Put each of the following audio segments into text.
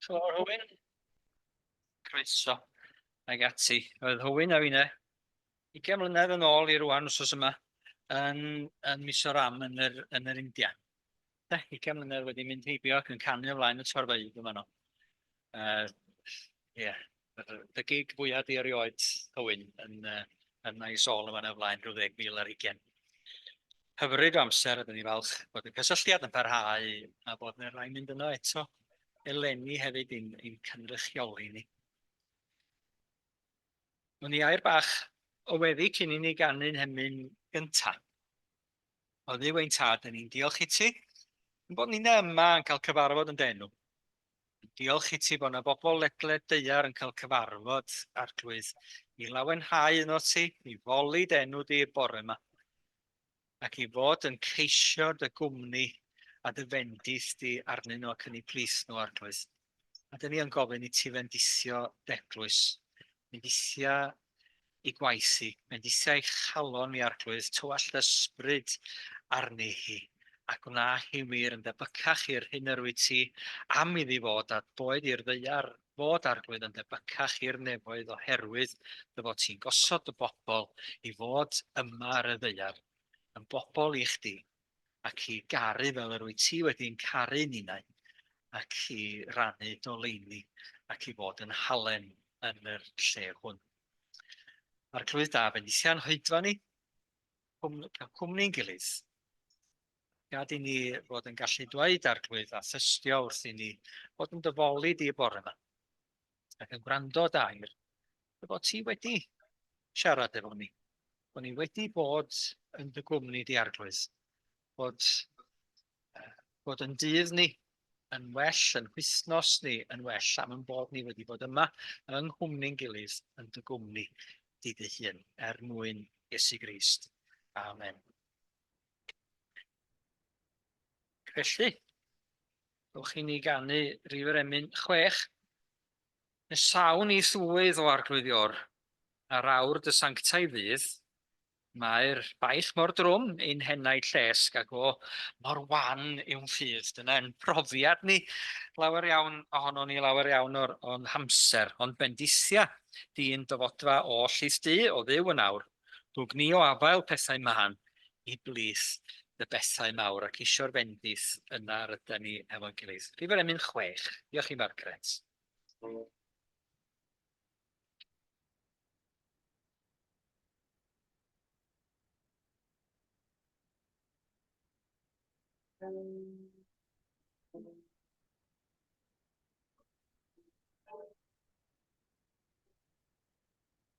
Helo, Hywyn. Croeso. Ag ati. Oedd Hywyn a finne 20 mlynedd yn ôl i rwan wrsos yma yn, yn Misoram yn yr, yn yr India. Da, 20 mlynedd wedi mynd heibio ac yn canu ymlaen y torfeydd yma no. Uh, Ie, dy gig fwya di erioed, Hywyn, yn, yn ei sôl yma na flaen rhyw ddeg mil ar hugen. Hyfryd o amser, ydyn ni falch bod y cysylltiad yn parhau a bod yna rhaid mynd yno eto eleni hefyd i'n, in cynrychioli ni. O'n i air bach o weddi cyn i ni ganu'n hemyn gynta. Oedd ni wein tad, dyn ni'n diolch i ti. Yn bod ni'n yma yn cael cyfarfod yn denw. Diolch i ti bod yna bobl ledled daear yn cael cyfarfod Arglwydd i lawenhau un o ti, i foli dy enw di y bore yma, ac i fod yn ceisio dy gwmni a dy fendith di arnyn nhw ac yn eu plith nhw, Arglwydd. A dyn ni yn gofyn i ti fendithio dy eglwys, fendithia i gwaith hi, bendithiai chalon i arglwydd tywallt ysbryd arni hi, a gwna hi wir yn debycach i'r hyn yr wyt ti am iddi fod, a boed i'r ddaear fod arglwydd yn debycach i'r nefoedd oherwydd dy fod ti'n gosod dy bobl i fod yma ar y ddaear, yn bobl i chdi. ac i garu fel yr wyt ti wedi'n caru ninnau, ac i rannu doleini, ac i fod yn halen yn yr lle hwn. Arglwydd da, fe nithia'n hoedfa ni, cael cwmni'n gilydd. Gad i ni fod yn gallu dweud arglwydd a thystio wrth i ni fod yn dyfoli di y bore yma. ac yn gwrando dair, dy fod ti wedi siarad efo ni, bod ni wedi bod yn dy gwmni di arglwydd, bod, uh, bod yn dydd ni yn well, yn hwythnos ni yn well, am yn bod ni wedi bod yma yng nghwmni'n gilydd yn dy gwmni di dy hun, er mwyn Iesu Grist. Amen. Felly, Ewch i ni ganu rif yr emyn chwech. Nes sawn ni swydd o arglwyddior, ar awr dy sanctaidd ddydd, Mae'r baich mor drwm ein henaid llesg ac o mor wan yw'n ffydd. Dyna ein profiad ni, lawer iawn ohonon ni, lawer iawn o'r o'n hamser. Ond bendithia di'n dyfodfa o Llys Du, o Dduw yn awr. Dw gni o afael pethau mân i blith dy bethau mawr ac isio'r fendith yna rydan ni hefo'n gilydd. Rhifr emyn chwech. Diolch i Margaret.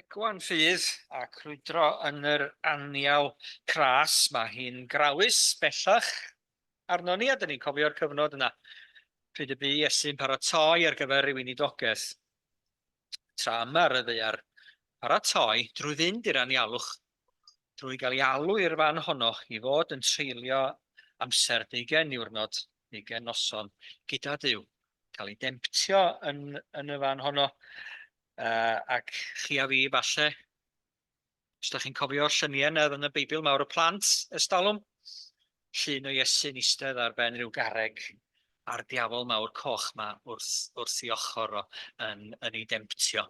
Egwan ffydd a crwydro yn yr anial cras, mae hi'n grawys bellach arnon ni a dyn ni'n cofio'r cyfnod yna pryd y bu Iesu'n paratoi ar gyfer ei weinidogaeth. Tra yma, ryddi ar paratoi drwy fynd i'r anialwch drwy gael ei alw i'r fan honno i fod yn treulio amser deugain niwrnod, deugain noson gyda Duw, cael ei demptio yn, yn y fan honno, uh, ac chi a fi falle, os da chi'n cofio lluniau yna yn y Beibl mawr y plant, ystalwm, llun o Iesu'n eistedd ar ben rhyw garreg, a'r diafol mawr coch 'ma wrth, wrth 'i ochor o, yn, yn 'i demtio.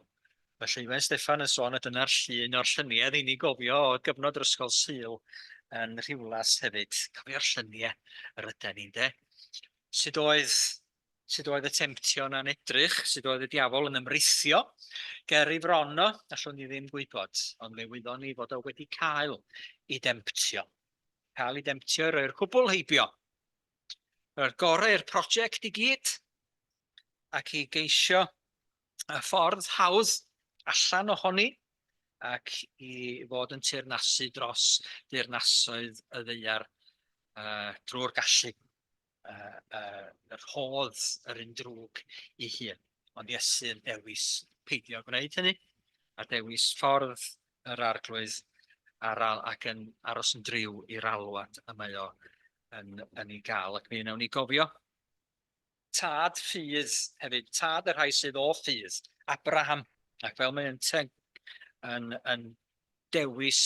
Felly, mae Steffan yn sôn, a dyna'r llun o'r lluniau i ni gofio o gyfnod yr ysgol Sul yn Rhiwlas hefyd. Cofio'r lluniau yr yden ni'n de. Sut oedd, sut oedd y temtion a'n edrych, sut oedd y diafol yn ymrithio ger i fron o, allwn ni ddim gwybod, ond fe wyddon ni fod o wedi cael i demtio. cael ei demtio i roi'r cwbl heibio. Roi'r gorau i'r prosiect i gyd ac i geisio y ffordd hawdd allan ohoni ac i fod yn teyrnasu dros deyrnasoedd y ddeiar uh, drwy'r gallu. yy rhodd yr un drwg i hun, ond Iesu yn dewis peidio gwneud hynny, a dewis ffordd yr arglwydd ar al, ac yn aros yn driw i'r alwad y mae o yn, yn ei gael. Ac mi wnawn ni gofio tad ffydd hefyd, tad y rhai sydd o ffydd, Abraham, ac fel mae'n te yn, yn dewis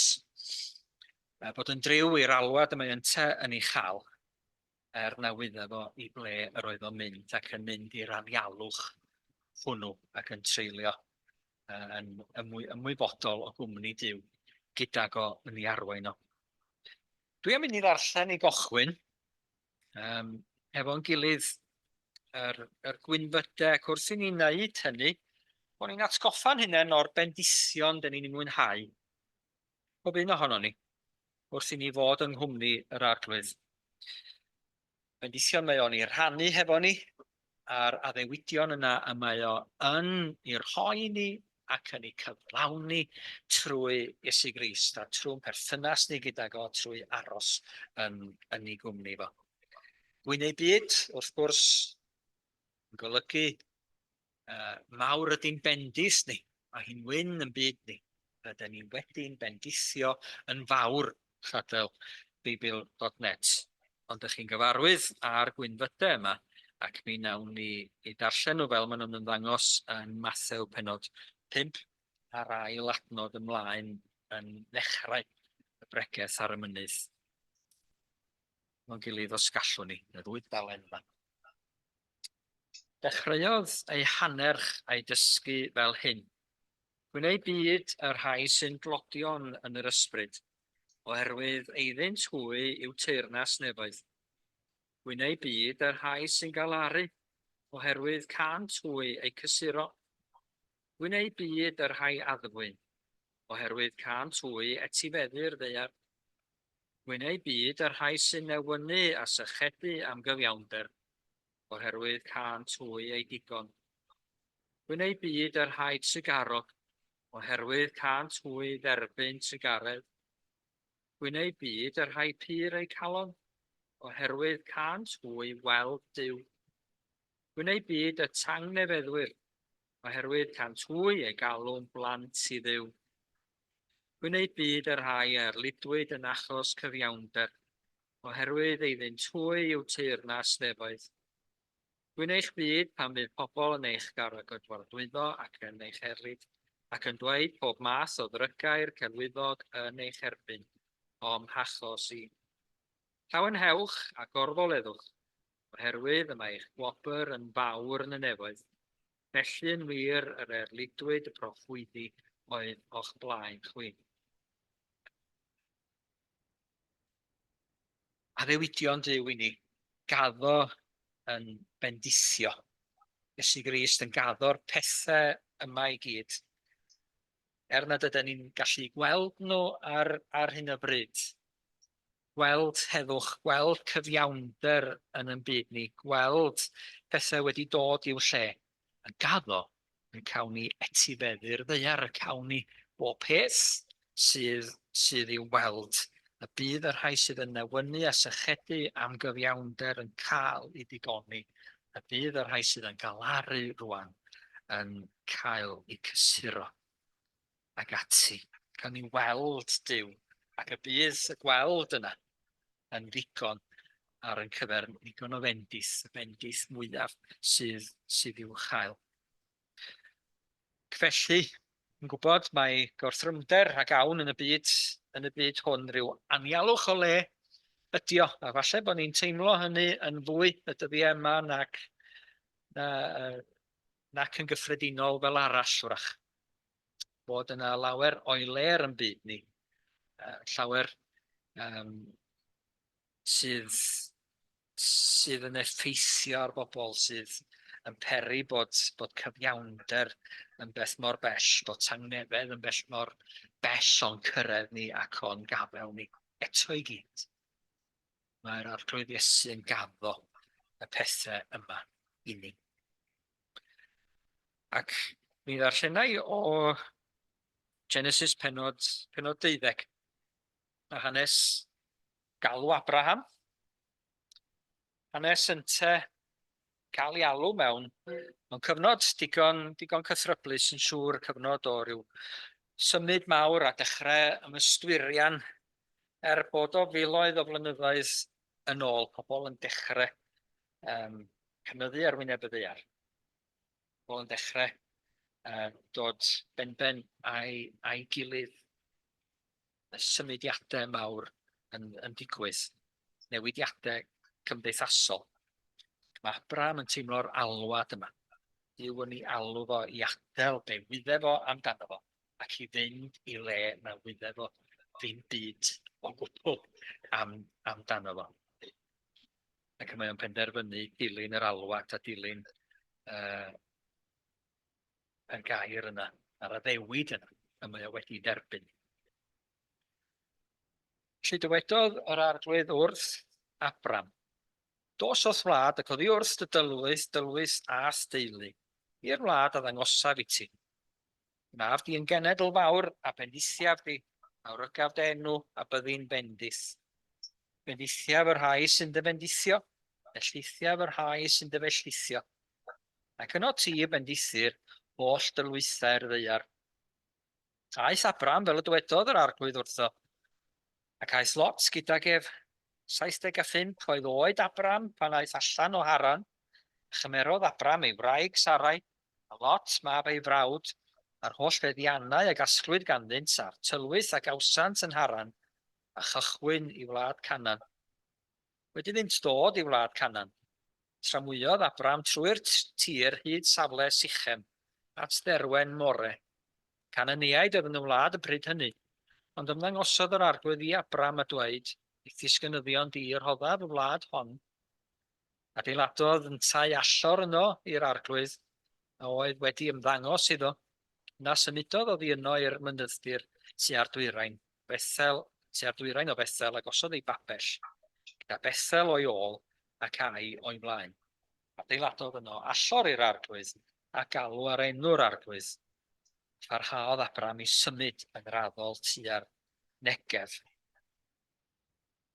bod yn driw i'r alwad y mae yn te yn ei chael, er na wydda fo i ble yr oedd o'n mynd, ac yn mynd i'r anialwch hwnnw, ac yn treulio uh, yn ymwy, ymwybodol o gwmni Dyw, gydag o yn ei arwain o. Dwi am mynd i ddarllen i gochwyn, um, efo'n gilydd yr, yr gwynfydau, ac wrth i ni wneud hynny, bod ni'n atgoffa'n hynny o'r bendision dyn ni'n mwynhau pob un ohonon ni, wrth i ni fod yng nghwmni yr Arglwydd. Bendithion mae o'n ei rhannu hefo ni, a'r addewidion yna y mae o yn ei rhoi i ni ac yn ei cyflawni trwy Iesu Grist a trwy'n perthynas ni gyda fo trwy aros yn, yn ei gwmni fo. Gwyn ei byd, wrth gwrs, yn golygu Uh, mawr ydy'n bendis ni, mae hi'n wyn yn byd ni. Rydyn ni wedi'n bendithio yn fawr, chadel Beibl.net. Ond ych chi'n gyfarwydd â'r gwynfydau yma, ac mi nawn ni i darllen nhw fel maen nhw'n ymddangos yn Mathew penod 5 a'r ail adnod ymlaen yn ddechrau y bregeth ar y mynydd. Mae'n gilydd os gallwn ni, y ddwy dalen yma. Dechreuodd ei hanerch a'i dysgu fel hyn, Gwyn eu byd y rhai sy'n dlodion yn yr ysbryd, oherwydd eiddynt hwy yw teyrnas nefoedd. Gwyn eu byd y rhai sy'n galaru, oherwydd cânt hwy eu cysuro. Gwyn eu byd y rhai addfwyn, oherwydd cânt hwy etifeddu'r ddaear. Gwyn eu byd y rhai sy'n newynu a sychedu am gyfiawnder, oherwydd cân twy ei digon. Gwyn ei byd a rhaid sigarog, oherwydd cân twy dderbyn sigaredd. Gwyn ei byd a rhaid pur ei calon, oherwydd cân twy weld Duw. Gwyn ei byd a tang nefeddwyr, oherwydd cân twy ei galw'n blant i ddiw. Gwyn ei byd a rhai a erlidwyd yn achos cyfiawnder, oherwydd ei fynd hwy yw teyrnas nefoedd. Dwi'n eich byd pan fydd pobl yn eich garagydwardwyddo ac yn eich erlid, ac yn dweud pob math o ddrygair celwyddog yn eich erbyn, o'm hachos i. Llawenhewch a gorfoleddwch, oherwydd y mae eich gwobr yn fawr yn y nefoedd, felly yn wir yr erlidwyd y proffwydi oedd o'ch blaen chwi. Addewidion Duw i ni. Gaddo yn bendithio. Iesu Grist yn gaddo'r pethau yma i gyd. Er nad ydyn ni'n gallu gweld nhw ar, ar hyn o bryd, gweld heddwch, gweld cyfiawnder yn yn byd ni, gweld pethau wedi dod i'w lle, a gaddo yn cawn ni etifeddu'r ddaear, y cawn ni bob peth sydd sydd i'w weld, y bydd y rhai sydd yn newynu a sychedu am gyfiawnder yn cael i digoni, y bydd y rhai sydd yn galaru rwan yn cael i cysuro. ac ati, gawn ni weld Duw, ac y bydd y gweld yna yn ddigon ar yn cyfer ni, ddigon o fendith, y fendith mwyaf sydd, sydd i'w chael. Felly, yn gwybod mae gorthrymder rhag awn yn y byd, yn y byd hwn rhyw anialwch o le ydi o, a falle bod ni'n teimlo hynny yn fwy y dyddiau yma nac, na, nac yn gyffredinol fel arall wrach. bod yna lawer o'i le ar yn byd ni, uh, llawer um, sydd, sydd yn effeithio ar bobl, sydd yn peri bod, bod cyfiawnder yn beth mor bell, bod tangnefedd yn bell mor bell o'n cyrraedd ni ac o'n gafel ni eto i gyd. Mae'r arglwydd Iesu yn gaddo y pethau yma i ni. Ac mi ddarllena i o Genesis penod, penod deuddeg, a hanes galw Abraham, hanes ynte cael ei alw mewn, mewn cyfnod digon, digon cythryblus yn siŵr, cyfnod o ryw symud mawr a dechrau ymystwirian er bod o filoedd o flynyddoedd yn ôl, pobl yn dechrau um, cynyddu ar wyneb y ddear. Pobl yn dechrau uh, dod benben a'i, ai gilydd y symudiadau mawr yn, yn digwydd, newidiadau cymdeithasol. Mae Abram yn teimlo'r alwad yma. Dyw yn ei alw fo i adael be wydde fo amdano fo. ac i fynd i le na wydde fo ddim byd o gwbl am, amdano fo. Ac mae o'n penderfynu dilyn yr alwad a dilyn uh, y gair yna, a'r addewid yna, y mae o wedi derbyn. Felly dywedodd yr arglwydd wrth Abram, Dos o'th wlad ac oddi wrth dy dylwys, dylwys a steulu, i'r wlad a ddangosaf i ti. Mab di yn genedl fawr, a bendithiaf di, a wrygaf dy enw, a byddi'n bendith. Bendithiaf y rhai sy'n dy fendithio, ellithiaf y rhai sy'n dy fellithio. Ac yno ti y bendithir holl dylwythau'r ddeiar. Aeth Abram fel y dwedodd yr arglwydd wrtho, ac aeth Lot gydag ef. 75 oedd oed Abram pan aeth allan o Haran, a chymerodd Abram ei wraig Sarai a Lot, mab ei frawd, a'r holl feddiannau a gasglwyd ganddynt, a'r tylwyth a gawsant yn Haran, a chychwyn i wlad Canan. Wedi iddynt dod i wlad Canan, tramwyodd Abram trwy'r tir hyd safle Sychem, at dderwen More. Cananiaid oedd yn y wlad y pryd hynny. Ond ymddangosodd yr Arglwydd i Abram a dweud, Wyt ti 'sgynyddion di i rhoddaf y wlad hon Adeiladodd yntau allor yno i'r arglwydd a oedd wedi ymddangos iddo, yna symudodd oddi yno i'r mynydddir tua'r dwyrain Bethel, tua'r dwyrain o Bethel, a gosodd ei babell, gyda Bethel o'i ôl ac Ai o'i flaen. Adeiladodd yno allor i'r arglwydd, a galw ar enw'r arglwydd, a pharhaodd Abram i symud yn raddol tua'r Negef.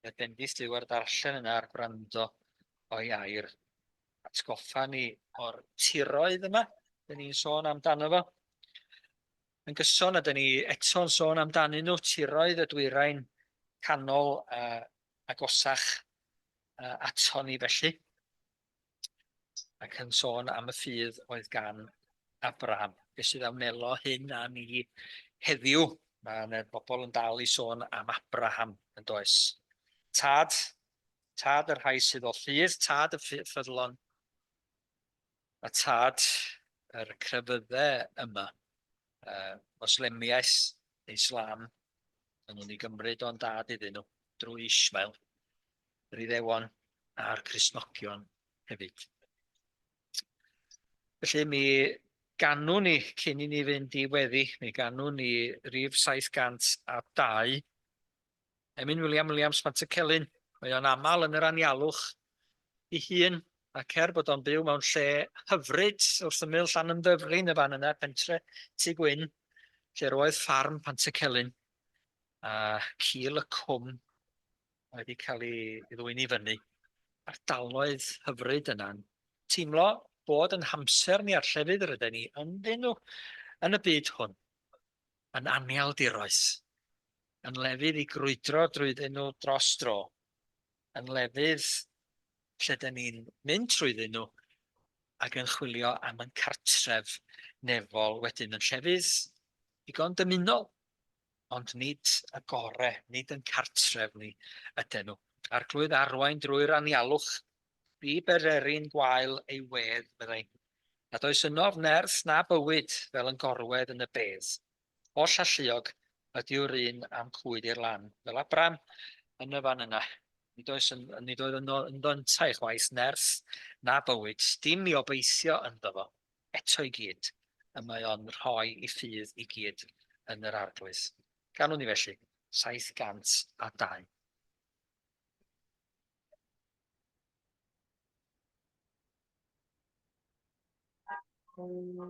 y dendis yw a'r darllen yna a'r gwrando o'i air. Atgoffa ni o'r tiroedd yma, dyn ni'n sôn amdano fo. Yn gyson, a dyn ni eto'n sôn amdanyn nhw, tiroedd y dwyrain canol uh, agosach uh, ato ni felly. ac yn sôn am y ffydd oedd gan Abraham. Beth sydd a wnelo hyn â ni heddiw? Mae yna bobl yn dal i sôn am Abraham yn does. Tad, tad y rhai sydd o ffydd, tad y ffyddlon, a tad yr crefyddau yma. Uh, Moslemiaeth, Islam, yn nhw'n ei gymryd o'n dad iddyn nhw drwy Ismael. yr Iddewon a'r Cristnogion hefyd. Felly mi ganwn ni, cyn i ni fynd i weddi, mi ganwn ni rif 702, Emin William Williams Pantycelyn, mae o'n aml yn yr anialwch i hun, ac er bod o'n byw mewn lle hyfryd wrth ymyl llan ymddyflin y fan yna, pentre Tŷ Gwyn, lle roedd ffarm Pantycelyn, a cil y cwm wedi cael ei ddwyn i fyny, ardaloedd hyfryd yna'n teimlo bod yn hamser ni a'r llefydd ryden ni ynddyn nhw yn y byd hwn yn annealdiroes, yn lefydd i grwydro drwyddyn nhw dros dro, yn lefydd lle dyn ni'n mynd trwyddyn nhw ac yn chwilio am yn cartref nefol wedyn yn llefydd digon dymunol Ond nid y gore, nid yn cartref ni yden nhw. Arglwydd arwain drwy'r anialwch, bu bereri'n gwael ei wedd, meddai, nad oes ynof nerth na bywyd fel yn gorwedd yn y bedd. Holl alluog ydyw'r un a'm cwyd i'r lan, fel Abram yn y fan yna. Nid oes yn, nid oedd yno ynddo yntau chwaith nerth na bywyd, dim i obeithio ynddo fo. eto i gyd, y mae o'n rhoi i ffydd i gyd yn yr Arglwydd. Gan wn i felly, 702. Thank you.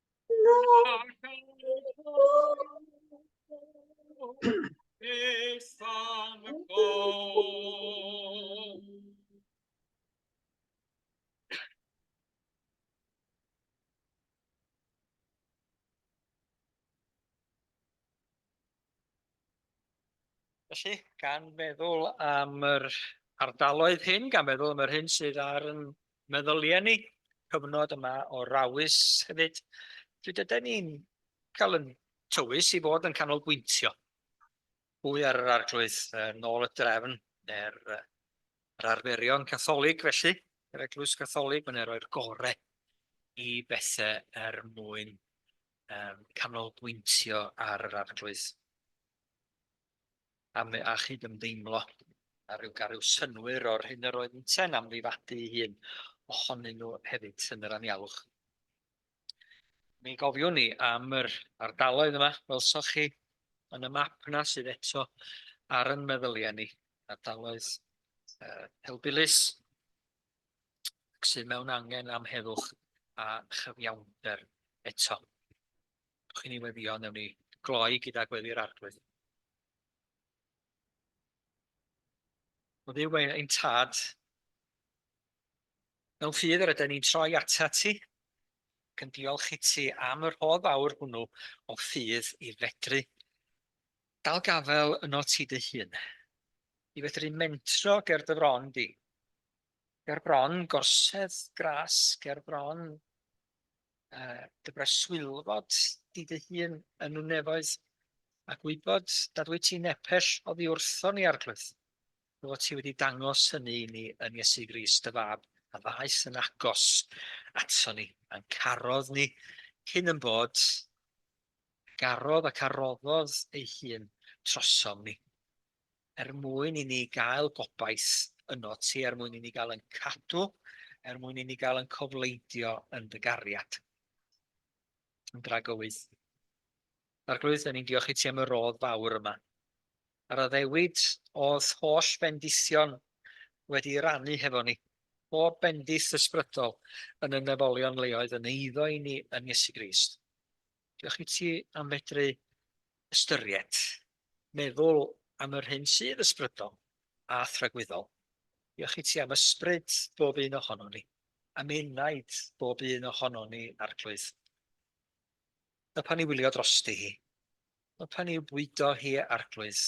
Na. Felly, gan feddwl am yr ardaloedd hyn, gan feddwl am yr hyn sydd ar yn Meddylia ni cyfnod yma o rawys hefyd, pryd yden ni'n cael yn tywys i fod yn canolbwyntio fwy ar yr Arglwydd, nôl y drefn, neu'r yr arferion Catholig felly, yr Eglwys Gatholig, mae'n ei roi'r gore i bethe er mwyn um, canolbwyntio ar yr Arglwydd. am a chyd-ymdeimlo a rhyw gael rhyw synnwyr o'r hyn yr oedd yntau'n amddifadu ei hun ohonyn nhw hefyd yn yr anialwch. Mi gofiwn ni am yr ardaloedd yma, welsoch chi yn y map yna sydd eto ar yn meddyliau ni, ardaloedd uh, helbulus sydd mewn angen am heddwch a chyfiawnder eto. Dewch i ni weddio, newn ni gloi gyda Gweddi'r Arglwydd. O Dduw ein, ein tad, mewn ffydd yr ydyn ni'n troi ata ti, ac yn diolch i ti am yr hodd fawr hwnnw o ffydd i fedru dal gafael yno ti dy hun, i fedru mentro ger dy fron di, ger bron gorsedd gras, ger bron yy dy breswylfod di dy hun yn y nefoedd, a gwybod nad wyt ti'n nepell oddi wrthon ni, Arglwydd, dy fod ti wedi dangos hynny i ni yn Iesu Grist, dy fab, a ddaeth yn agos aton ni, a'n carodd ni cyn yn bod, garodd ac aroddodd ei hun trosom ni. er mwyn i ni gael gobaith yno ti, er mwyn i ni gael yn cadw, er mwyn i ni gael yn cofleidio yn dy gariad. Yn dragywydd. Arglwydd, da ni'n diolch i ti am y rodd fawr yma. A'r addewid oedd holl bendision wedi rannu hefo ni. Bob bendith ysbrydol yn y nefolion leoedd yn eiddo i ni yn Iesu Grist. Diolch i ti am fedru ystyried, meddwl am yr hyn sydd ysbrydol a thragwyddol. Diolch i ti am ysbryd bob un ohonon ni, am enaid bob un ohonon ni, Arglwydd. Nawr pan i wylio drosti hi, nawr pan i bwydo hi, Arglwydd,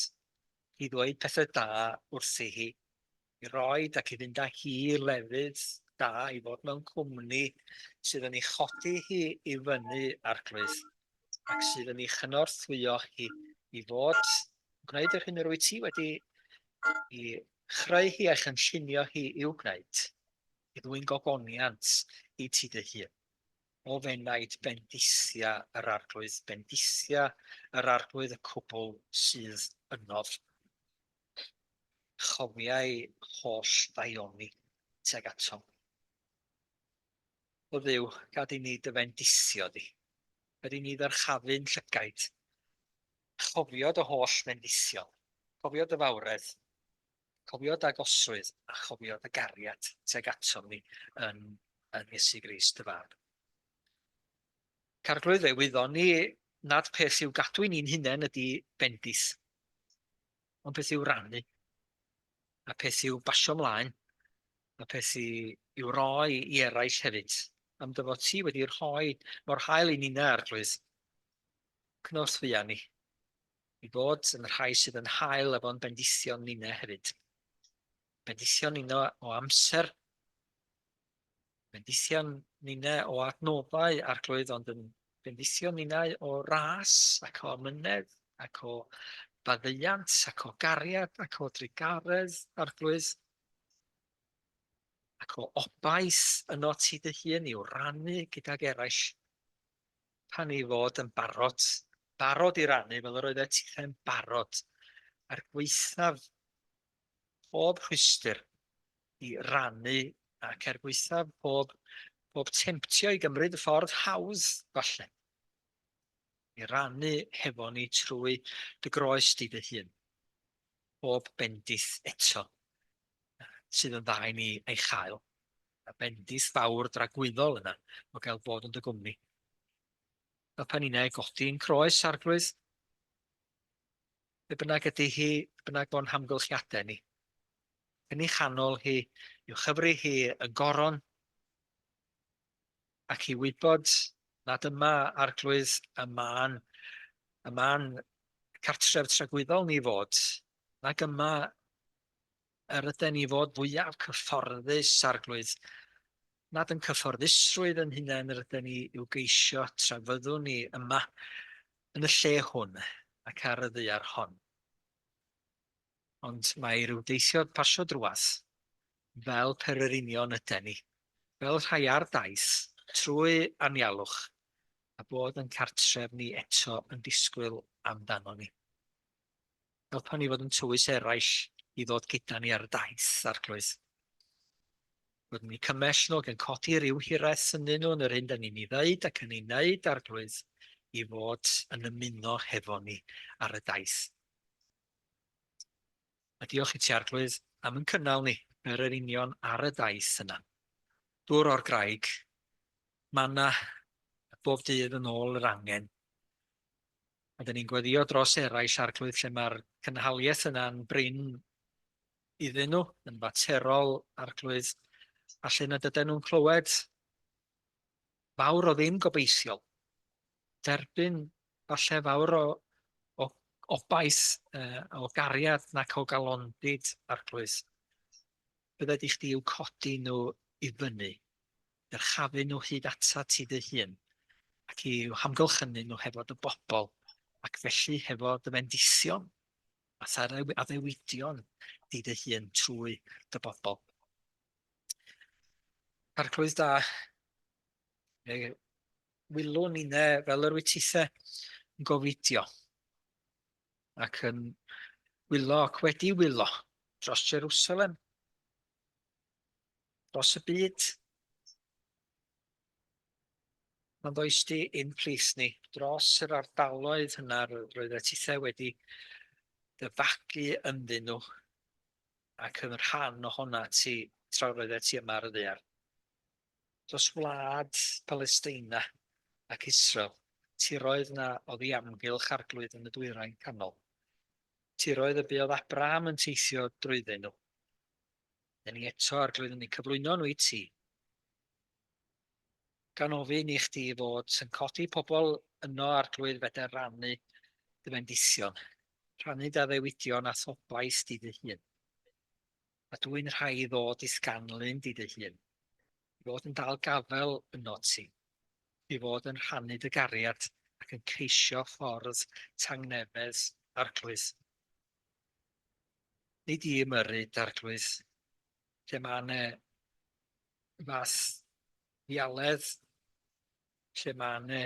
i ddweud pethau da wrthi hi, i roid ac i fynd â hi i lefydd da, i fod mewn cwmni sydd yn ei chodi hi i fyny, Arglwydd, ac sydd yn ei chynorthwyo hi i fod, gwneud yr hyn yr wyt ti wedi i chreu hi a'i chynllunio hi i'w gwneud, i ddwyn gogoniant i ti dy hun. O fenaid bendithia yr arglwydd, bendithia yr arglwydd y cwbl sydd ynof. chofiai holl ddaioni tuag atom. O Dduw, gad i ni dy fendisio di. Gad i ni ddyrchafu'n llygaid. Chofio dy holl fendision. Cofio dy fawredd. Cofio dy agosrwydd a chofio dy gariad tuag atom ni yn, yn Iesu Gris dy fab. Carglwydd fe wyddon ni nad peth i'w gadw i ni'n hunain ydy bendith. ond peth i'w rannu, a peth i'w basio mlaen, a peth i'w roi i eraill hefyd, am dy fod ti wedi rhoi mor hael i nina arglwydd. Cnos fuan ni, i fod yn rhai sydd yn hael efo'n bendithion nina hefyd. Bendithion nina o amser, Bendithion ninne o adnoddau arglwydd, ond yn bendithion ninnau o ras ac o amynedd ac o faddeuant ac o gariad ac o drugaredd arglwydd ac o obaith yno ti dy hun i'w rannu gydag eraill pan ei fod yn barod, barod i rannu fel yr oeddet ti'n barod, a'r gweithaf pob rhwystr i rannu ac er gwaethaf pob pob temtio i gymryd y ffordd hawdd falle i rannu hefo ni trwy dy groes di dy hun pob bendith eto sydd yn dda i ni ei chael y bendith fawr dragwyddol yna o gael bod yn dy gwmni y pan inau godi yn croes arglwydd Be bynnag ydy hi, be bynnag bo'n hamgylchiadau ni, yn ei chanol hi, i'w chyfri hi yn goron, ac i wybod nad yma arglwydd y man, y man cartref tragwyddol ni fod, nag yma yr yden ni fod fwyaf cyfforddus, Arglwydd, nad yn cyfforddusrwydd yn hunain yr yden ni i'w geisio tra fyddwn ni yma yn y lle hwn ac ar y ddaear hon. Ond mae rhyw deithiod pasio drwadd, fel pererinion yden ni, fel rhai ar daith, trwy anialwch, a bod yn cartref ni eto yn disgwyl amdano ni. Helpa ni fod yn tywys eraill i ddod gyda ni ar y daith, arglwydd. Bod ni cymell nhw ac yn codi rhyw hiraeth synnyn nhw yn yr hyn da ni'n ei ddeud ac yn ei wneud, arglwydd, i fod yn ymuno hefo ni ar y daith. A diolch i ti, arglwydd, am yn cynnal ni er yr union ar y daith yna. Dŵr o'r graig, manna bob dydd yn ôl yr angen, A dan ni'n gweddio dros eraill arglwydd lle mae'r cynhaliaeth yna'n brin iddyn nhw, yn faterol arglwydd, a lle nad ydyn nhw'n clywed fawr o ddim gobeithiol. Derbyn falle fawr o, o obaith, uh, o gariad nac o galondid, arglwydd. Bydde di chdi i'w codi nhw i fyny. dyrchafu nhw hyd atat ti dy hun, ac i'w hamgylchynu nhw hefo dy bobl, ac felly hefo dy fendithion, a tha'r addewidion di dy hun trwy dy bobl. Arglwydd da, fe wylwn i ne fel yr wytithe yn gofidio, ac yn wylo ac wedi wylo dros Jerusalem, dros y byd. Mae'n ddoes di i'n plith ni dros yr ardaloedd hynna roedd y tithau wedi dyfagu ynddyn nhw ac yn rhan o honna ti tra roedd ti yma ar y ddear. Dros wlad Palesteina ac Israel, tiroedd na oedd i amgylch arglwydd yn y dwyrain canol. Tiroedd y buodd Abraham yn teithio drwyddyn nhw, Dyn ni eto, Arglwydd, yn ni cyflwyno nhw i ti. Gan ofyn i chdi fod sy'n codi pobl yno, Arglwydd, fedr rannu dy fendision, rhannu dy addewidion a thobaith di dy hun. A dwi'n rhai i ddod i sganlun di dy hun, i fod yn dal gafel yno ti, i fod yn rhannu dy gariad ac yn ceisio ffordd tangnefedd, Arglwydd. Nid i ymyrru d'Arglwydd, lle mae yna fath ddialedd, lle mae yna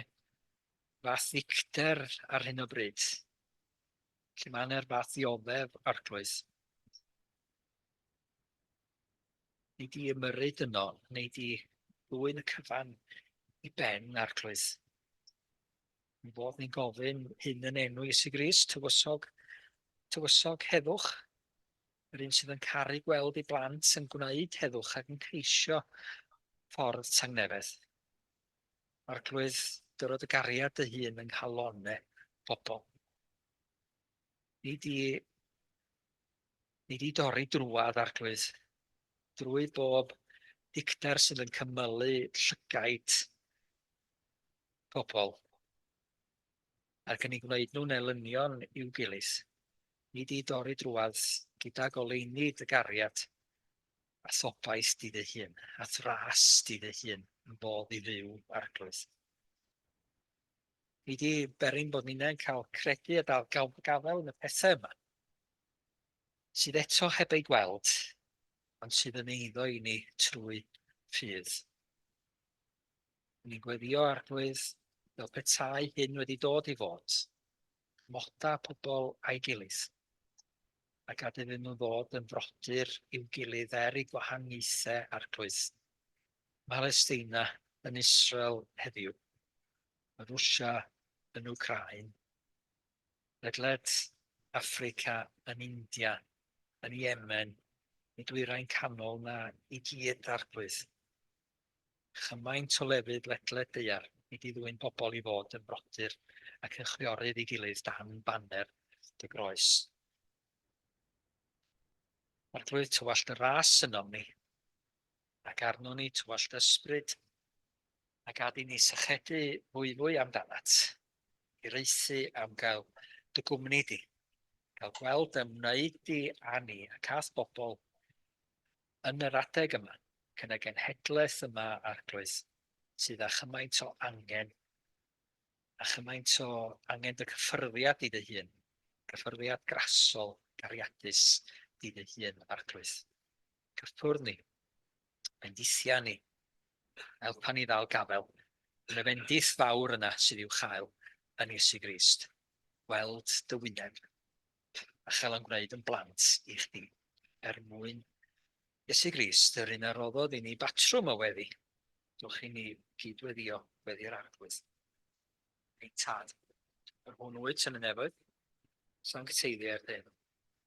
fath ddicter ar hyn o bryd, lle mae yna'r fath ddioddef, Arglwydd. Nid i ymyrru dyno, nid i ddwyn y cyfan i ben, Arglwydd. Mi fodd ni'n gofyn hyn yn enw Iesu Grist, tywysog, tywysog, heddwch, yr un sydd yn caru gweld ei blant yn gwneud heddwch ac yn ceisio ffordd tangnefedd. Arglwydd, dyrod y gariad dy hun yng nghalonne pobl. Nid i Ni di dorri drwadd Arglwydd, drwy bob dicter sydd yn cymylu llygaid pobl ac yn ei gwneud nhw'n elynion i'w gilydd. Ni di dorri drwadd gyda goleuni dy gariad a thobaith di dy hun, a thras di dy hun yn fodd i fyw, Arglwydd. Fi 'di berin bod ninnau'n cael credu a dal gawn a gafael yn y pethau yma, sydd eto heb eu gweld, ond sydd yn eiddo i ni trwy ffydd. Ni'n gweddio arglwydd fel petai hyn wedi dod i fod, moda pobl a'i gilydd, a gad iddyn nhw ddod yn frodyr i'w gilydd er i gwahaniaethau arglwydd. Mhalesteina yn Israel heddiw, mae Rwsia yn Wcráin, ledled Affrica yn India, yn Yemen, y Dwyrain Canol 'na i gyd, Arglwydd. Chymaint o lefydd ledled daear i di ddwyn pobl i fod yn frodyr ac yn chwiorydd ei gilydd dan baner dy groes. Arglwydd, tywallt y ras ynom ni. Ac arnon ni dy wallt ysbryd, a gad i ni sychedu fwyfwy amdanat, i raethu am gael dy gwmni di, gael gweld dy ymwneud di â ni ac â'th bobl yn yr adeg yma, ac yn y genhedlaeth yma, Arglwydd, sydd â chymaint o angen, â chymaint o angen dy gyffyrddiad di dy hun, gyffyrddiad grasol, gariadus, di dy hun, Arglwydd. cyffwrdd ni, bendithia ni, helpa ni ddal gafel yn y fendith fawr yna sydd i'w chael yn Iesu Grist, gweld dy wyneb a chael yn gwneud yn blant i chdi, er mwyn Iesu Grist, yr un a roddodd i ni batrwm o weddi, dwch i ni gydweddio weddi'r arglwydd. Ein tad, yr hwn wyt yn y nefoedd, sancteiddiau'r dyn.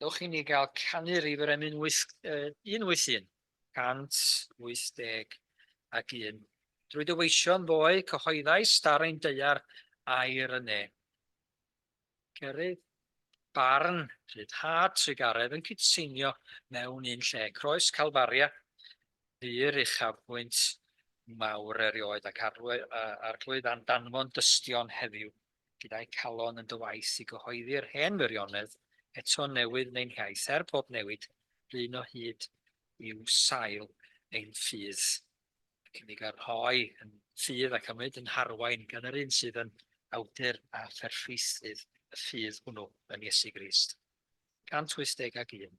Dewch i ni gael canu rif yr emyn 181 181. Drwy dy weision ddoe cyhoeddais dar ein deuar air yn ne. Cerydd, barn, rhyddhad, trugaredd yn cydseinio mewn un lle, croes Calfaria, ddur uchafbwynt mawr erioed ac Arglwydd a'n danfon dystion heddiw, gyda'u calon yn dy waith i gyhoeddi'r hen wirionedd, eto newydd neu'n hiaith, er pob newid, blin o hyd i'w sail ein ffydd. y cynnig a rhoi yn ffydd ac a wneud yn harwain gan yr un sydd yn awdur a pherffeithnydd y ffydd hwnnw, yn Iesu Grist. 181.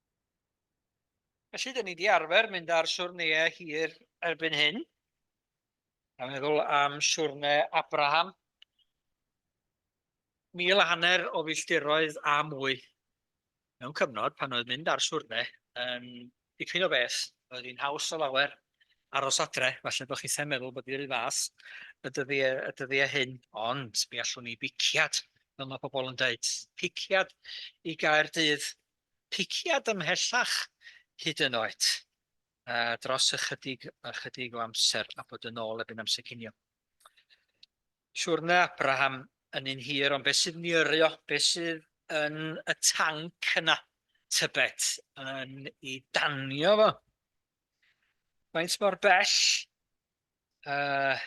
Felly, dyn ni wedi arfer mynd ar siwrneau hir erbyn hyn. A meddwl am siwrne Abraham. Mil a hanner o filltiroedd a mwy. Mewn cyfnod pan oedd mynd ar siwrne yn dipyn o beth. Oedd hi'n haws o lawer aros adre. Falle bod chi'n meddwl bod i'r fath y dyddiau, y dyddiau hyn. Ond mi allwn ni biciad, fel mae pobl yn dweud, piciad i gael dydd piciad ymhellach hyd yn oed dros ychydig ychydig o amser a bod yn ôl erbyn amser cinio. Siwrne Abraham yn un hir ond beth sydd yn yrru o? Beth sydd yn y tanc yna? Tybed yn i danio fo? Faint mor bell uh,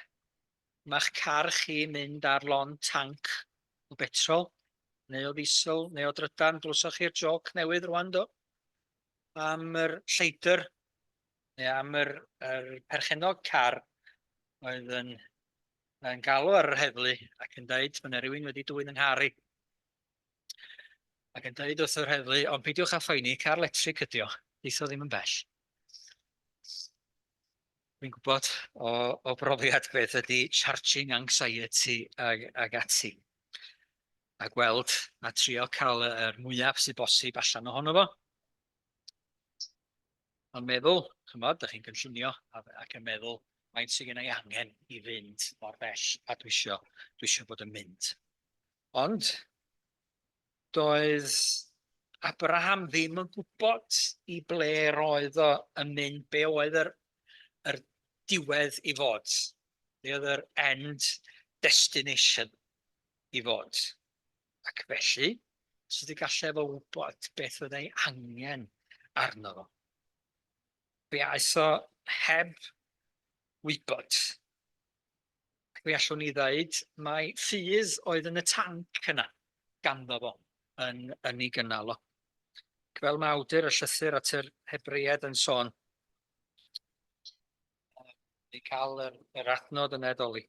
ma'ch car chi'n mynd ar lond tanc o betrol, neu o ddiesel, neu o drydan, glywsoch chi'r jôc newydd rwan, do? Am yr lleidr, neu am yr, yr perchennog car oedd yn, yn galw ar yr heddlu ac yn dweud, mae yna rhywun wedi dwy'n yng nghar i. Ac yn dweud wrth yr heddlu, ond peidiwch â phoeni, car letrig ydi o, deitho ddim yn bell. Dwi'n gwybod o o brofiad beth ydy charging anxiety ag ag ati, a gweld a trio cael y yr mwyaf sydd bosib allan ohono fo. Ond meddwl, ch'mod, dych chi'n gynllunio a f- ac yn meddwl faint sydd genna i angen i fynd mor bell a dwi isio dwi isio bod yn mynd. Ond, doedd Abraham ddim yn gwybod i ble yr oedd o yn mynd, be oedd yr, yr diwedd i fod, be oedd yr end destination i fod. Ac felly, sut y gallai efo wybod beth oedd ei angen arno fo? Fe aeth o heb wybod. mi allwn ni ddeud mai ffydd oedd yn y tanc yna ganddo fo yn yn ei gynnal o. Ac fel mae awdur y llythyr at yr Hebreiaid yn sôn, ni cael yr, yr adnod yn edoli.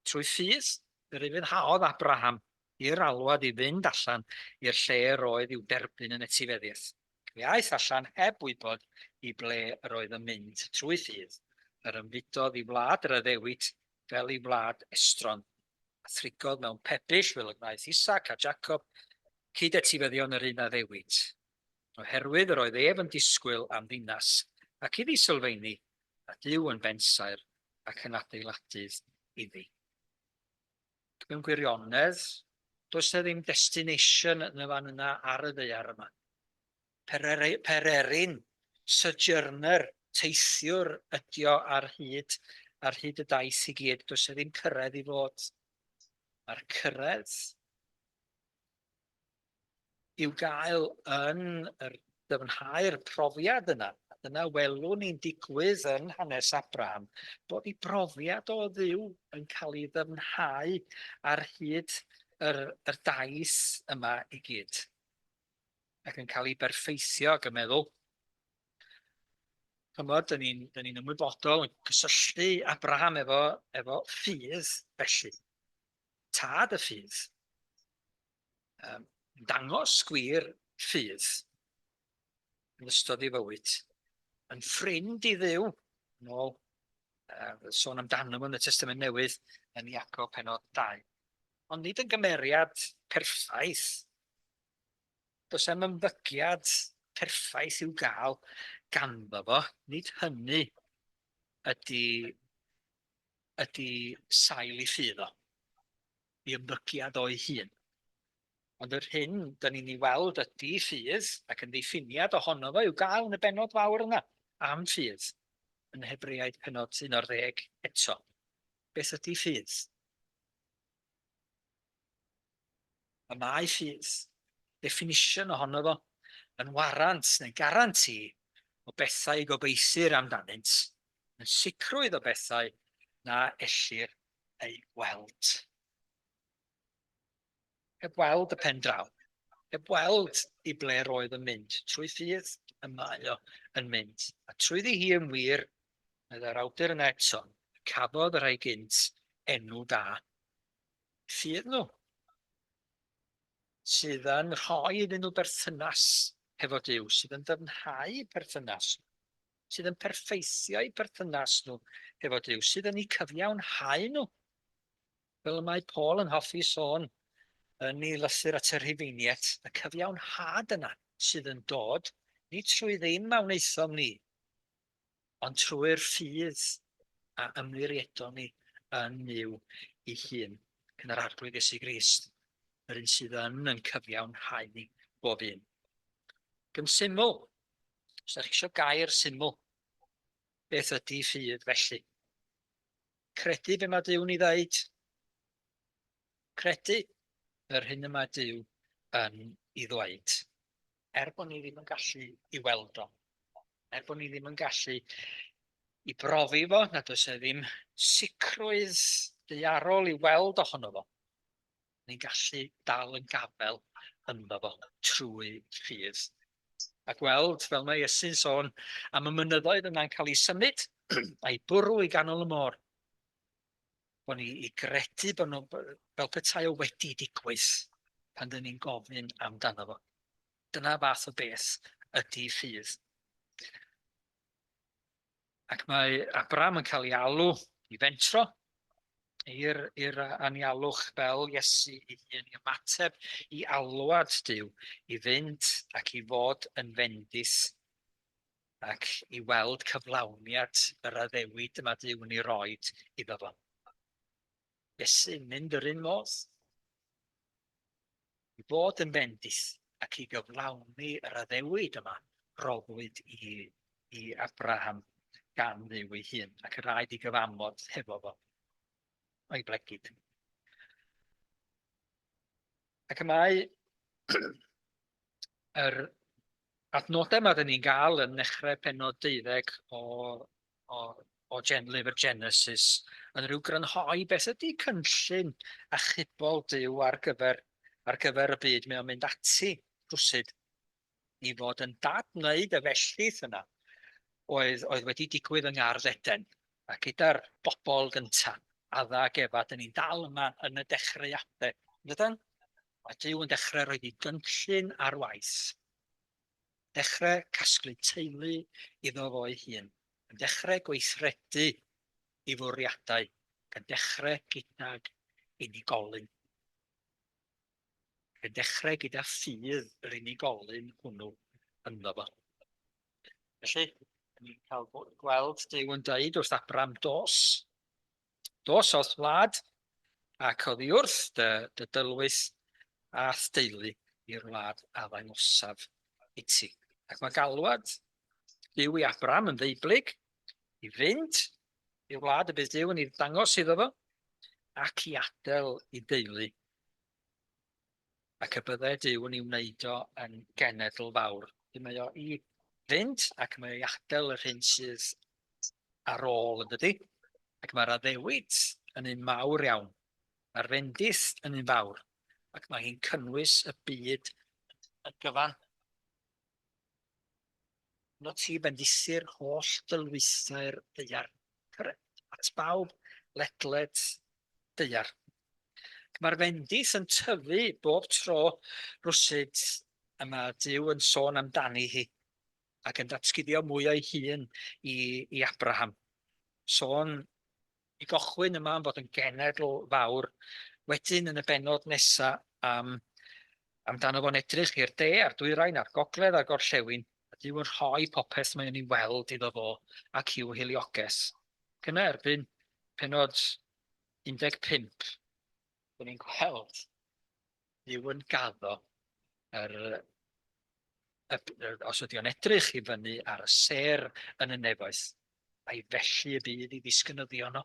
Trwy ffydd, yr ufuddhaodd Abraham i'r alwad i fynd allan i'r lle yr oedd i'w derbyn yn etifeddiaeth. Mi aeth allan heb wybod i ble yr oedd yn mynd trwy ffydd, yr ymfudodd i wlad yr Addewid fel i wlad estron, a thrigodd mewn pebyll fel y gwnaeth Isaac a Jacob, cyd-etifeddion yr un Addewid. Oherwydd yr oedd ef yn disgwyl am ddinas ac iddi sylfeini, a Duw yn bensaer ac yn adeiladydd iddi. mewn gwirionedd, does 'na ddim destination yn y fan yna ar y ddaear yma. Pereri- pererin, sojourner, teithiwr ydio ar hyd, ar hyd y daith i gyd, does 'na ddim cyrraedd i fod. Mae'r cyrraedd i'w gael yn yr dyfnhau'r profiad yna. Dyna welwn ni'n digwydd yn hanes Abraham, bod ei brofiad o ddiw yn cael ei ddyfnhau ar hyd yr, yr daith yma i gyd. Ac yn cael ei berffeithio ac yn meddwl, chymod, dyn ni'n ni, ymwybodol yn cysylltu Abraham efo, efo ffydd felly, tad y ffydd. Yym, dangos gwir ffydd yn ystod ei fywyd, yn ffrind i ddew, yn ôl uh, sôn amdano yn y Testament Newydd yn Iacob penod 2. Ond nid yn gymeriad perffaith. Does am ymddygiad perffaith i'w gael ganddo fo, nid hynny ydy, ydy sail i ffydd o. i ymddygiad o'i hun. Ond yr hyn dan ni'n ei weld ydi ffydd, ac yn ddiffiniad ohono fo i'w gael yn y bennod fawr yna am ffydd, yn Hebreaid pennod 11 eto. Beth ydi ffydd? Y mae ffydd, definition ohono fo, yn warant neu garanti o bethau i gobeithir amdanynt, yn sicrwydd o bethau na ellir ei weld. Heb weld y pen draw. Heb weld i ble roedd yn mynd. Trwy ffydd y mae o yn mynd. A trwyddi hi yn wir, meddai'r awdur yna eto, cafodd y rhai gynt enw da. Ffydd nhw sydd yn rhoi iddyn nhw berthynas hefo Dyw, sydd yn dyfnhau perthynas sydd yn perffeithio'u perthynas nhw hefo Duw, sydd yn eu cyfiawnhau nhw. Fel y mae Paul yn hoffi sôn yn ei lythyr at y Rhufeiniaid, y cyfiawnhad yna sydd yn dod, ni trwy ddim a wnaethom ni, ond trwy'r ffydd a ymwiriedon ni yn Nuw ei hun, yn yr Arglwydd Iesu Grist, yr un sydd yn yn cyfiawnhau ni bob un. Gyn syml, Os ydych chi eisiau gair syml, beth ydy ffydd felly? Credu be mae Dyw'n ei ddeud. Credu yr hyn y mae Dyw yn ei ddweud. Er bod ni ddim yn gallu i weld o. Er bod ni ddim yn gallu i brofi fo, nad oes e ddim sicrwydd deiarol i weld ohono fo. ni'n gallu dal yn gafael ynddo fo trwy ffydd. A gweld, fel mae Iesu'n sôn, am y mynyddoedd yna'n cael ei symud a'i bwrw i ganol y môr. Bo ni i gredu bod nhw, fel petai o wedi digwydd pan dyn ni'n gofyn amdano fo. Dyna fath o beth ydy ffydd. Ac mae Abram yn cael ei alw i fentro i'r, i'r anialwch fel Iesu ei hun, i ymateb i alwad Dyw, i fynd ac i fod yn fendith ac i weld cyflawniad yr addewid y mae Dyw yn ei roed iddo fo. Felly, mynd yr un modd, i fod yn bendith ac i gyflawni yr addewid yma, roddwyd i, i Abraham gan ddiw ei hun, ac yr rhaid i gyfamod hefo fo, o'i blegid. Ac y mae yr adnodau yma dyn ni'n gael yn nechrau penod deuddeg o o, o gen lyfr Genesis yn rhyw grynhoi beth ydy cynllun achubol Dyw ar gyfer, ar gyfer y byd. Mae o'n mynd ati rhwsyd i fod yn dad wneud y felltith yna oedd, oedd wedi digwydd yng Ngardd Eden a gyda'r bobl gyntaf, Adda ac Efa, dyn ni'n dal yma yn y dechreuadau. Dydan? Mae Dyw yn dechrau rhoi i gynllun ar waith. dechrau casglu teulu iddo fo'i hun, yn dechrau gweithredu ei fwriadau, ac yn dechrau gydag unigolyn. Ac yn dechrau gyda ffydd yr unigolyn hwnnw ynddo fo. Felly, ni'n cael gweld Dyw yn dweud wrth Abram, dos, Dos o'th wlad, ac oddiwrth dy, dy dylwyth, a'th deulu i'r wlad a ddangosaf iti. Ac mae galwad Duw i Abram yn ddeublyg, i fynd i'r wlad y bydd Duw yn ei ddangos iddo fo, ac i adel i deulu ac y bydde Duw yn ei wneud o yn genedl fawr. Felly mae o i fynd ac mae o i adael yr hyn sydd ar ôl yn dydy. Ac mae'r addewid yn un mawr iawn. Mae'r fendith yn un fawr. Ac mae hi'n cynnwys y byd y gyfan. Yno ti bendithu'r holl dylwythau'r deiar. Cyrraedd at bawb ledled deiar. Mae'r fendith yn tyfu bob tro rwsyd y mae Duw yn sôn amdani hi ac yn datguddio mwy o'i hun i, i Abraham. Sôn i gochwyn yma am fod yn genedl fawr, wedyn yn y benod nesaf am amdano fo'n edrych i'r de a'r dwyrain a'r gogledd a'r gorllewin, a Duw yn rhoi popeth mae'n ei weld iddo fo ac i'w hilioges. Ac yna erbyn penod 15. Dyn ni'n gweld Duw yn gaddo yr, y, os ydy o'n edrych i fyny ar y ser yn y nefoedd, a'i felly y bydd i ddisgynyddio yno.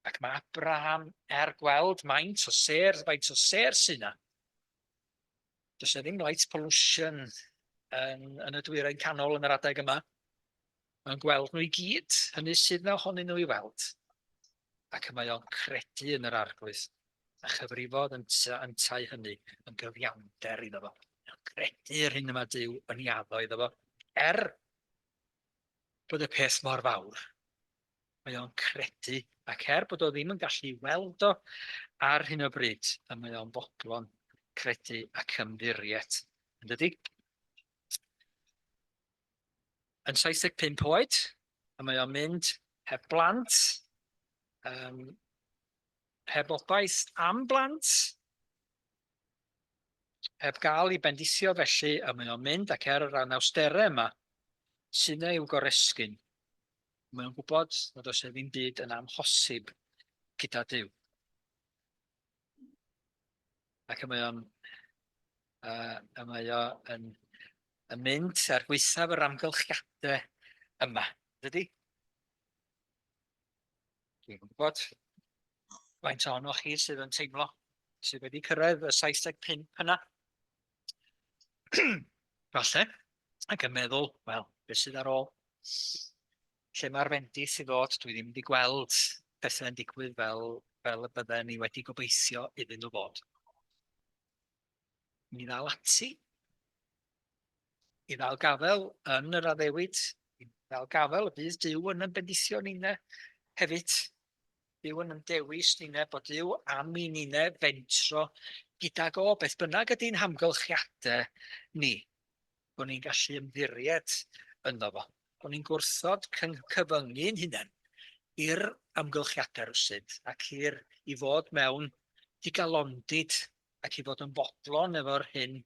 Ac mae Abraham er gweld maint o ser, faint o ser sy'n yna, Does yna ddim light pollution yn, yn y dwyrain canol yn yr adeg yma. Mae'n gweld nhw i gyd, hynny sydd na ohonyn nhw i weld. Ac y mae o'n credu yn yr arglwydd, a chyfrifodd yn yntau hynny yn gyfiawnder iddo fo. Mae'n credu yr hyn yma Dyw yn iaddo iddo fo, er bod y peth mor fawr. mae o'n credu, ac er bod o ddim yn gallu weld o ar hyn o bryd, y mae o'n fodlon credu ac ymddiriet, yn dydy? Yn 75 oed, y mae o'n mynd heb blant, um, heb obaith am blant, heb gael ei bendithio felly y mae o'n mynd ac er yr anawsterau yma, sy'n ei wgoresgyn, Mae o'n gwybod nad oes e ddim byd yn amhosib gyda Duw. Ac mae o'n uh, y mae o yn, yn mynd ar gweithaf yr amgylchiadau yma. Dydy? Dwi'n gwybod faint ohonoch chi sydd yn teimlo sydd wedi cyrraedd y 75 yna. Falle, ac yn meddwl, wel, beth sydd ar ôl? Lle mae'r fendith i ddod? Dwi ddim wedi gweld pethau'n digwydd fel, fel y bydden ni wedi gobeithio iddyn nhw fod. Mi ddal ati i ddal gafel yn yr addewid, i ddal gafel y bydd Dyw yn yn bendithio ni yna hefyd. Duw yn yn dewis nine, bod Duw am i nine fentro gydag o beth bynnag ydy'n hamgylchiadau ni, bod ni'n gallu ymddiried ynddo fo, bod ni'n gwrthod cyfyngu'n hunain i'r amgylchiadau rwsyd ac i'r i fod mewn digalondid ac i fod yn fodlon efo'r hyn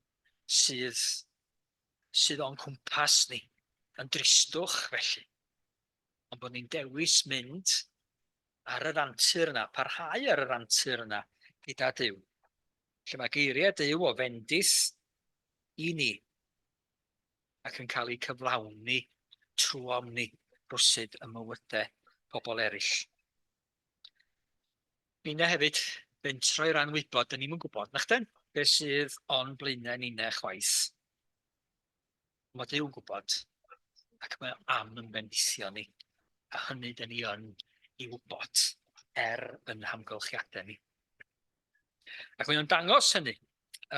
sydd sydd o'n cwmpas ni, yn dristwch felly. ond bod ni'n dewis mynd ar yr antur yna, parhau ar yr antur yna gyda Dyw. Lle mae geiriau Dyw o fendith i ni ac yn cael eu cyflawni trwy omni rwsyd y mywydau pobl eraill. Bina hefyd fentro i ran wybod, dyn ni'n gwybod, na chden, beth sydd o'n blaenau ni'n chwaith. Mae Duw'n gwybod ac mae am yn bendithio ni. A hynny dyn ni yn ei wybod er yn hamgylchiadau ni. Ac mae o'n dangos hynny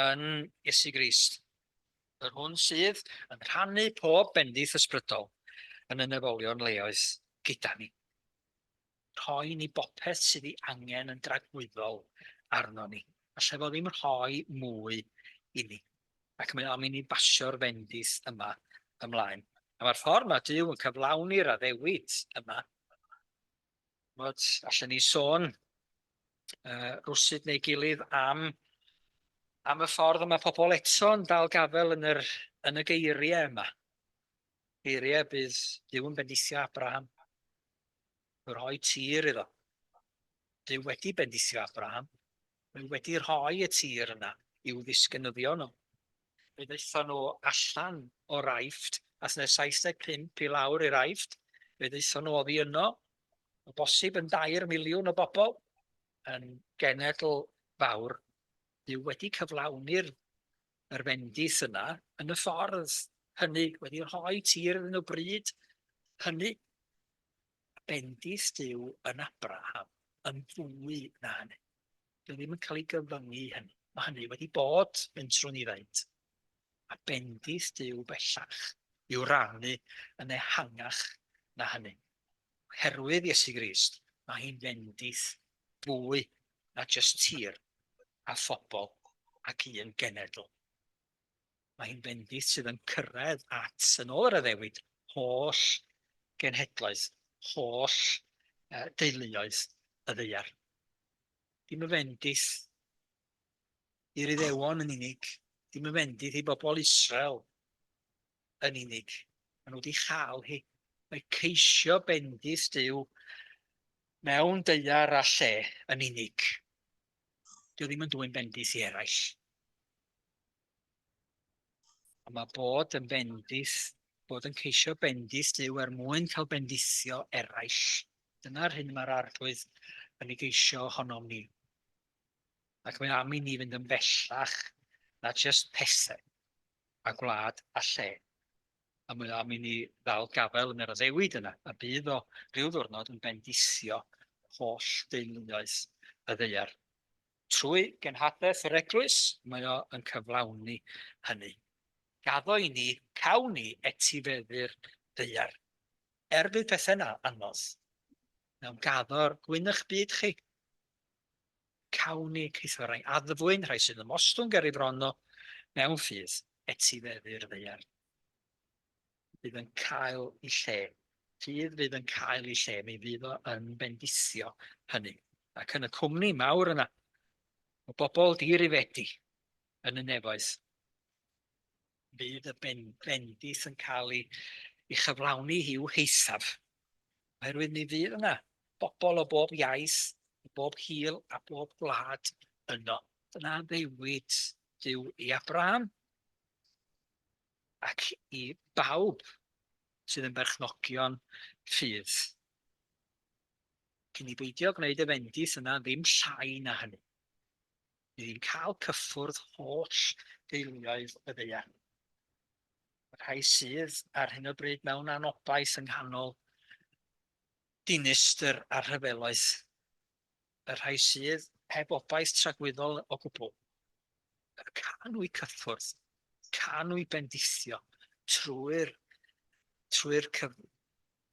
yn Iesu Grist, yr hwn sydd yn rhannu pob bendith ysbrydol yn y nefolion leoedd gyda ni. rhoi ni bopeth sydd ei angen yn dragwyddol arnon ni. Alla fo ddim rhoi mwy i ni. Ac mae am i ni basio'r fendith yma ymlaen. A mae'r ffordd mae Dyw yn cyflawni'r addewid yma. Mod, allan ni sôn uh, rwsyd neu gilydd am am y ffordd yma pobl eto'n dal gafel yn, yr, yn y geiriau yma. Geiriau bydd Dyw yn bendithio Abraham. y rhoi tir iddo. Duw wedi bendithio Abraham. Mae wedi rhoi y tir yna i'w ddisgynyddion nhw. Fe ddaethon nhw allan o Raifft, a thne 75 i lawr i Raifft. Fe ddaethon nhw oddi yno, o bosib yn dair miliwn o bobl, yn genedl fawr. Duw wedi cyflawni'r Mae'r fendith yna yn y ffordd hynny wedi rhoi tir iddyn nhw bryd hynny. Mae bendith Duw yn Abraham yn fwy na hynny. Dwi ddim yn cael ei gyfyngu i hynny. Mae hynny wedi bod yn trwy ni faint. Mae bendith Duw bellach i'w rannu yn ehangach na hynny. Oherwydd Iesu Grist, mae hi'n fendith fwy na jyst tir. a phobl ac un genedl. Mae hi'n fendith sydd yn cyrraedd at, yn ôl yr addewid, holl genhedloedd, holl uh, deuluoedd y ddeiar. Dim y fendith i'r iddewon yn unig, dim y fendith i bobl Israel yn unig. Maen nhw wedi chael hi. Mae ceisio bendith Dyw mewn deiar a lle yn unig. Dwi ddim yn dwy'n bendith i eraill. Ond mae bod yn bendith, bod yn ceisio bendith Dyw er mwyn cael bendithio eraill. Dyna'r hyn mae'r arglwydd yn ei geisio ohonom ni. Ac mae am i ni fynd yn bellach na just pethau, a gwlad a lle. a mi am i ni ddal gafael yn yr addewid yna, a bydd o ryw ddwrnod yn bendithio holl deuluoedd y ddaear. Trwy genhadaeth yr Eglwys, mae o yn cyflawni hynny. Gaddo i ni, cawn ni etifeddu'r ddaear. Er bydd pethau yna anodd, mewn gaddo'r gwyn'ch byd chi. Cawn ni ceisio rhai addfwyn, rhai sy'n ymostwng ger ei fron o mewn ffydd, etifeddu'r ddaear fydd yn cael ei lle. Ffydd fydd yn cael ei lle, mi fydd o yn bendithio hynny. Ac yn y cwmni mawr yna, o bobl dirifedi yn y nefoedd, Bydd y bendith yn cael ei chyflawni i'w heithaf, oherwydd mi fydd yna bobl o bob iaith, o bob hil a bob gwlad yno. Dyna ddewid Duw i Abraham ac i bawb sydd yn berchnogion ffydd. Cyn i beidio gwneud y fendith yna ddim llai na hynny. Bydd hi'n cael cyffwrdd holl deuluoedd y ddaear. Y rhai sydd ar hyn o bryd mewn anobaith yng nghanol dinistr a rhyfeloedd, y rhai sydd heb obaith tragwyddol o gwbl, y canwy cyffwrdd, canwy bendithio trwy'r trwy'r cyf,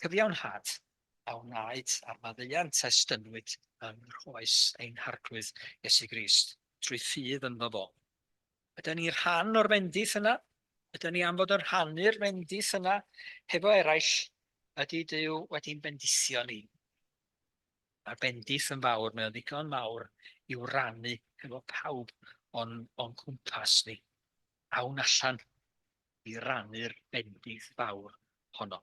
cyfiawnhad a wnaed a'r maddeuant a estynnwyd yng nghroes ein Harglwydd Iesu Grist, trwy ffydd ynddo fo. Yda ni rhan o'r fendith yna? Yda ni am fod yn rhannu'r fendith yna hefo eraill? Ydy Dyw wedi'n bendithio ni? Mae'r bendith yn fawr, mae'n ddigon mawr i'w rannu hefo pawb o'n, on cwmpas ni. Awn allan i rannu'r bendith fawr honno.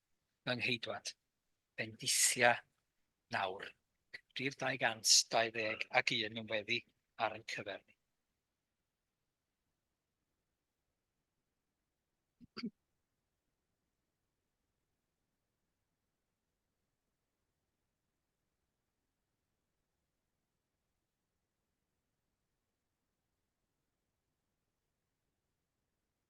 yng Ngheudwad, bendithia nawr, rhif 221 yn weddi ar ein cyfer ni.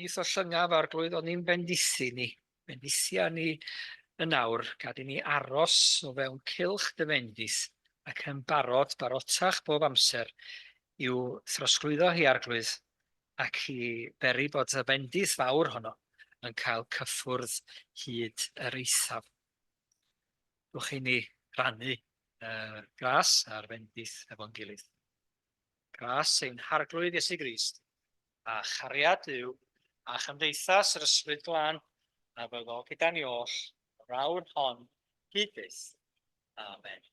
Nis o llyngav arglwydd o'n ni'n bendithu ni, bendithia ni yn awr, gad i ni aros o fewn cylch dy fendith, ac yn barod, barotach bob amser, i'w throsglwyddo hi, arglwydd, ac i beri bod y bendith fawr honno yn cael cyffwrdd hyd yr eithaf. Dewch i ni rannu uh, gras a'r fendith efo'n gilydd. Gras ein harglwydd Iesu Grist, a chariad yw, a chymdeithas yr ysbryd glân, a fyddo gyda ni oll, yr awr hon, hyd byth. Amen.